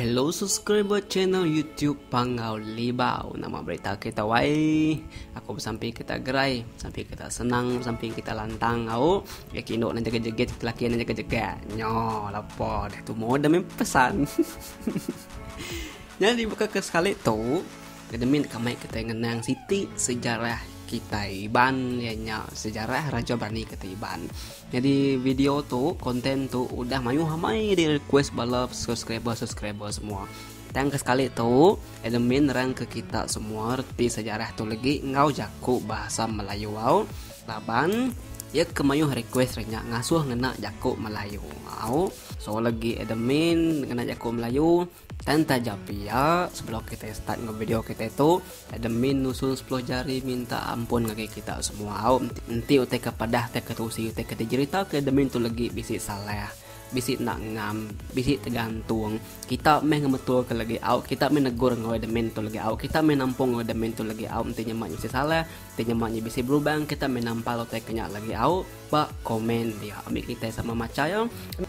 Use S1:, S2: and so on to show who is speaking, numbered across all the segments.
S1: Hello subscriber channel YouTube Panggau Libau. Nama berita kita wai? Aku bersampi kita gerai, bersampi kita senang, bersampi kita lantang au. Ya kino nang jaga jegit, laki nang jaga jegak. Nyo, lapa dah tu moda mem pesan. Jadi buka ke sekali tu, Kedemin deka mai kitai ngenang siti sejarah kitai Iban iya nya sejarah Raja Berani kitai Iban. Nyadi video tu, konten tu udah mayuh amai di request bala subscriber-subscriber semua. Tang ke sekali tu, admin nerang ke kita semua reti sejarah tu legi enggau jaku bahasa Melayu au laban Iya ke mayuh request re nya ngasuh ngena jaku Melayu. Au, so lagi admin ngena jaku Melayu. Dan taja pia, sebelum kitai start enggau video kitai tu, admin nusun sepuluh jari minta ampun ngagai kita semua. Au, enti utai ke padah tauka tusi utai ke dijerita ke admin tu legi bisi salah, bisi enda ngam, bisi tegantung, kita meh ngemetulka legi. Au, kita meh negur enggau admin tu legi. Au, kita meh nampung enggau admin tu legi. Au, enti nyema nya bisi salah. Ti nyema nya bisi berubang kita meh nampal utai ke nya lagi au ba komen dia. Ambi kitai sama macha iya,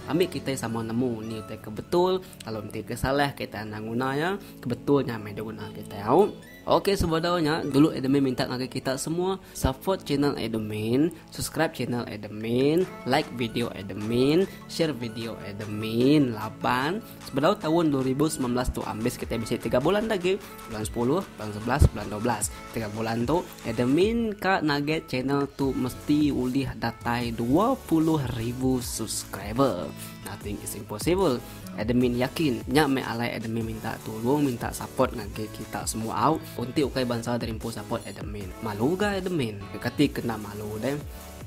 S1: ambi kitai sama nemu ni utai ke betul lalu enti ke salah kitai anang nguna iya ke betul nya meh diguna kitai au. Ok sebedau nya dulu admin minta ngagai kita semua support channel admin, subscribe channel admin, like video admin, share video admin laban Sebedau taun dua ribu semilan belas tu ambis kitai bisi tiga bulan dah agi, bulan sepuluh, bulan sebelas, bulan dua belas. Tiga bulan tu admin ka naget channel tu mesti ulih datai dua puluh ribu subscriber. Nothing is impossible. Admin yakin nya meh alai admin minta tulung minta support ngagai kita semua au. Unti ukai bansa derimpun support admin. Malu ga admin? Kati kena malu deh.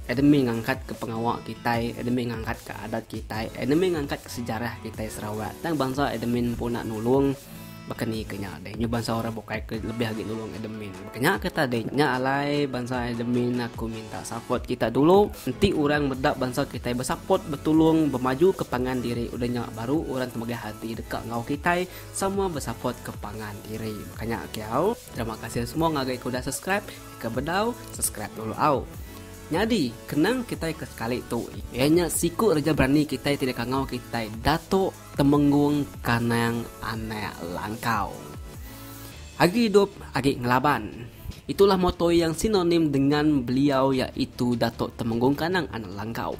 S1: Edemi ngangkat ke pengawa kitai, edemi ngangkat ke adat kitai, edemi ngangkat ke sejarah kitai Sarawak. Tang bansa edmin empu enda nulung baka ni ke nya deh. Nyu bansa orang bukai ke lebih agi nulung edmin. Baka nya ke tadi nya alai bansa edmin aku minta support kita dulu. Enti orang meda bansa kitai besupport, betulung, bemaju ke pangan diri udah nya baru orang temegah ati deka enggau kitai sama besupport ke pangan diri. Baka nya kiau. Terima kasih semua ngagai ke udah subscribe. Ke bedau subscribe dulu au. Nyadi kenang kitai ke sekali tu iya nya siku reja berani kitai ti dikangau kitai Datuk Temenggung Kanang Anak Langkau. Agi idup agi ngelaban. Itulah moto yang sinonim dengan beliau iaitu Datuk Temenggung Kanang Anak Langkau.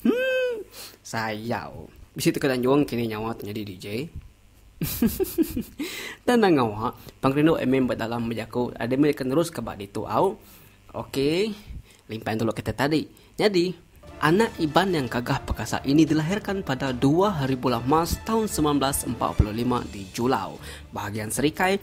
S1: Humm sayau bisi teka tanjung kini nyawa tu nyadi DJ. Tenang awa pengerindu admin ba dalam bejaku admin akan neruska ba ditu au. Ok limpah dulu kata tadi. Nyadi anak Iban yang gagah pekasa ini dilahirkan pada dua hari bulan Mac tahun semilan belas empat puluh lima di Julau, bahagian Serikai,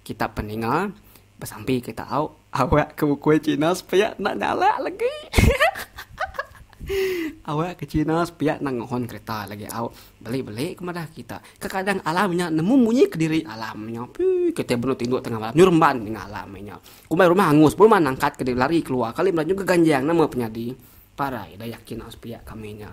S1: Kitak peninga besampi ke tau awak ke ukui cina sepiak enda nyalak legi hehehe awak ke cina sepiak enda ngohon kereta legi au beli-beli ke madah kitak kekadang alam nya nemu munyi kediri alam nya pii kitai benung tinduk tengah malam nyeremban ninga alam nya kumbai rumah angus rumah nangkat ke diri lari keluar kali melajuka ganjang nama penyadi parai dayak kina sepiak kami nya.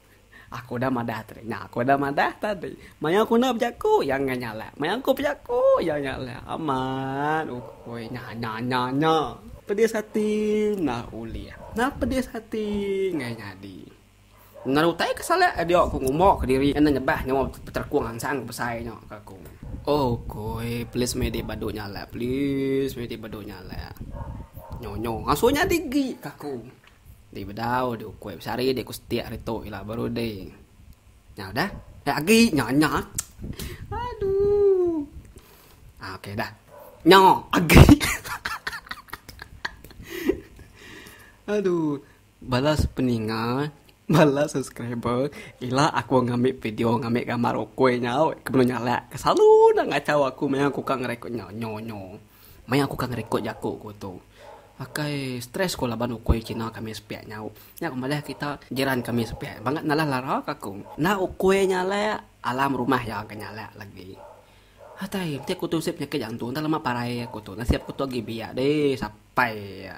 S1: Aku udah madah tadi. Nya aku udah madah tadi. Maya aku enda bejaku, iya enggai nyalak. Maya aku bejaku, iya nyalak. Amat ukui. Nya, nya, nya, nya. Pedis ati nah ulih. Nah pedis ati enggai nyadi. Ngena utai ke salak ke diau aku ngumba ke diri enda nyebah nyawa peterekung angsang besai nya ke aku. Ukui, please meh dik badu nyalak. Please meh dik badu nyalak. Nyo, nyo. Ngasuh nyadi agi ke aku. Dei bedau dei ukoi besari dei ku setik hari tu ila baru dei nyau dah dah agi nya nya aduh ah okay dah nya agi aduh balas peninga balas subscriber ila aku ngambi video ngambi gambar ukoi nyau ke belu nyalak ke selalu enda ngacau aku maya ku ka ngerekod nya nyo nyo. Maya aku ka ngerekod jaku ku tu. Akai stress ku laban ukui kina kami sepiak nyau. Nya ku madah kita jiran kami sepiak bangat nalah lara ka aku. Enda ukui nyalak alam rumah iya ga nyalak lagi. Atai enti aku tu sip nyakit jantung enda lama parai aku tu nasib aku tu agi biak deh sapai iya.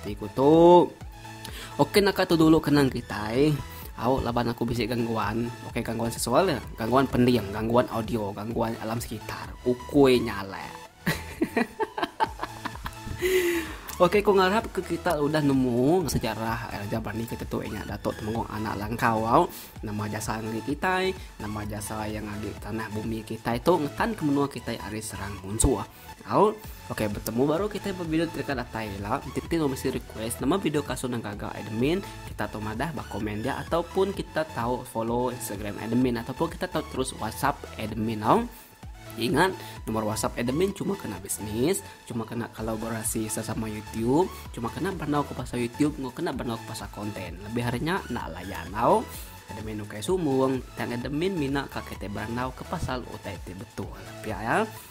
S1: Ti ku tu. Okey naka tu dulu kenang kitai. Au laban aku bisi gangguan. Okey gangguan seksual ya. Gangguan pending, gangguan audio, gangguan alam sekitar. Ukui nyalek. Okey, aku ngarap ke kita udah nemu sejarah eh, Raja Berani kita tu ingat Datuk Temenggung anak langkau au. Nama jasa ngeri kita, nama jasa yang ngagi tanah bumi kita tu ngetan ke menua kita ari serang munsur. Au, ok betemu baru kitai bevideo deka datai ila. Enti kitai enggau misi request nama video kasut nang gaga admin, kita tu madah ba komen dia ataupun kita tau follow Instagram admin ataupun kita tau terus WhatsApp admin au. Ingat, nomor WhatsApp admin cuma kena bisnis, cuma kena kolaborasi sesama YouTube, cuma kena benau ke pasal YouTube enggau kena benau ke pasal konten. Lebih ari nya enda layan au. Admin ukai sumung, tang admin mina ka kitai berandau ke pasal utai ti betul. Pia ya.